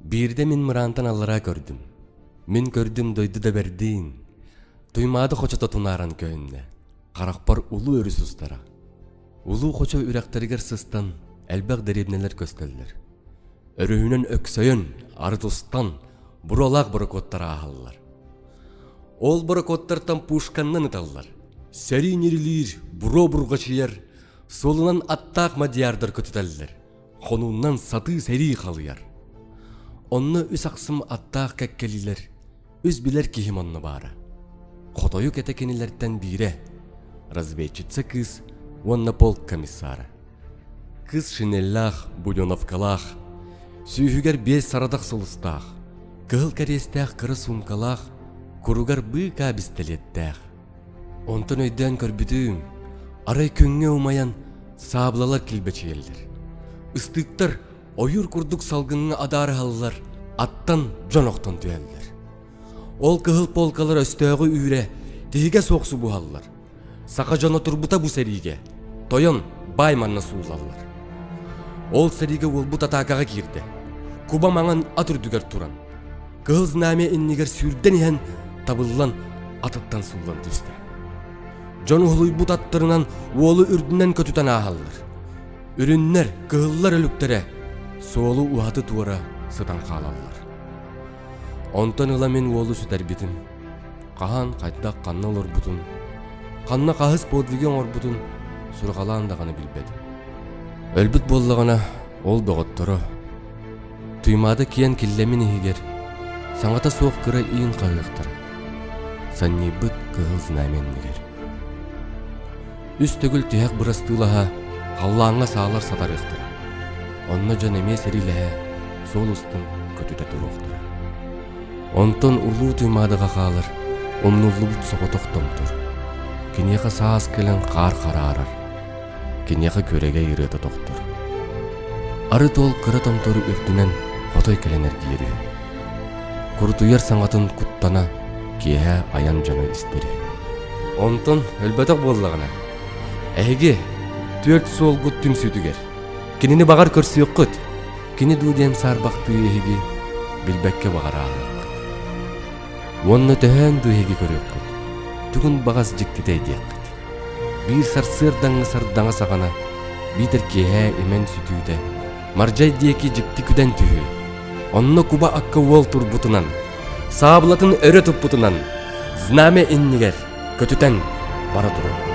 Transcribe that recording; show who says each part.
Speaker 1: Биирдэ мин мыраантан аллараа көрдүм. Мин көрдүм дойду да бэрдиин. Туймаада хочото тунааран көйүннэ. Харахпар улуу өрүс устара. Улуу хочо үрэхтэригэр сыстан, элбэх дэриэбнэлэр көскөллөр. Өрүһүнэн өксөйөн, арыт устан, буруолаах борокуоттар ааһаллар. Ол борокоттартан пушканнан ыталлар. Сэрии нирилиир, буро бургачыйар, суолунан аттаах мадьярдар көтүтэллэр. Хонуннан сатыы сэрии халыйар. Онно үс ахсым аттаах кэккэлиилэр, үс билэр киһим онно баара. Хотойу кэтэ кинилэртэн биирэ, разведчица кыыс уонна полк комиссара. Кыс шинеллээх, буденовкалаах, сүүһүгэр биэс сарадах сулустаах, кыһыл кэриэстээх кыра суумкалаах, куругар быыкаа бистилиэттээх. Онтон өйдөөн көрбүтүм, арай күҥҥэ умайан саабылалар килбэчийэллэр. Ыстыктар ойуур курдук салгыҥҥа адаарыһаллар, аттан дьон охтон түһэллэр. Ол кыһыл полкалар өстөөҕү үүрэ, тиһигэ суох субуһаллар, Саха дьоно турбута бу сэриигэ. Тойон, баай манна суулаллар. Ол сэриигэ уолбут атаакаҕа киирдэ. Куба маҥан ат үрдүгэр туран, Кыһыл Знамя иннигэр сүүрдэн иһэн, табыллан, атыттан сууллан түстэ. Дьон уһулуйбут аттарынан уолу үрдүнэн көтүтэн ааһаллар. Үрүннэр, кыһыллар өлүктэрэ суолу уһаты туора сытан хаалаллар. Онтон ыла мин уолу сүтэрбитим. Хаһан, хайдах, ханна олорбутун, ханна хаһыс подвиги оҥорбутун сурҕалаан даҕаны билбэтим. Өлбүт буоллаҕына, ол доҕотторо, Туймаада киэн киллэмин иһигэр, саҥата суох кыра иин хаһыахтара, санньыйбыт кыһыл знамя иннигэр. үс төгүл тиһэх бырастыылаһа халлааҥҥа саалар сатарыахтара онно дьон эмиэ сэриилэһэ суол устун көтүтэ туруохтара онтон улуу туймаадаҕа хаалар умнуллубут соҕотох томтор киниэхэ саас кэлэн хаар хараарар киниэхэ күрэгэй ырыата тохтор арыт ол кыра томтору үрдүнэн хотой кэлэн эргийэр үһү Курутуйар саҥатын куттана, киэһэ айан дьоно истири. Онтон өлбөтөх буоллаҕына, эһиги түөрт суолгут түмсүүтүгэр кинини баҕар көрсүөххүт, кини дуу диэн саарбахтыы эһиги билбэккэ баҕарааххыт. Уонна төһөөн дуу эһиги көрүөххүт, тугун баҕас дьиктитэй диэххит. Биир сарсыардаҥҥы сардаҥа саҕана биитэр киэһэ имэн сүтүүтэ Мардьай диэки дьикти күдэн түһүү. Онно куба акка уол турбутунан, саабылатын өрө туппутунан, знамя иннигэр көтүтэн бара туруо.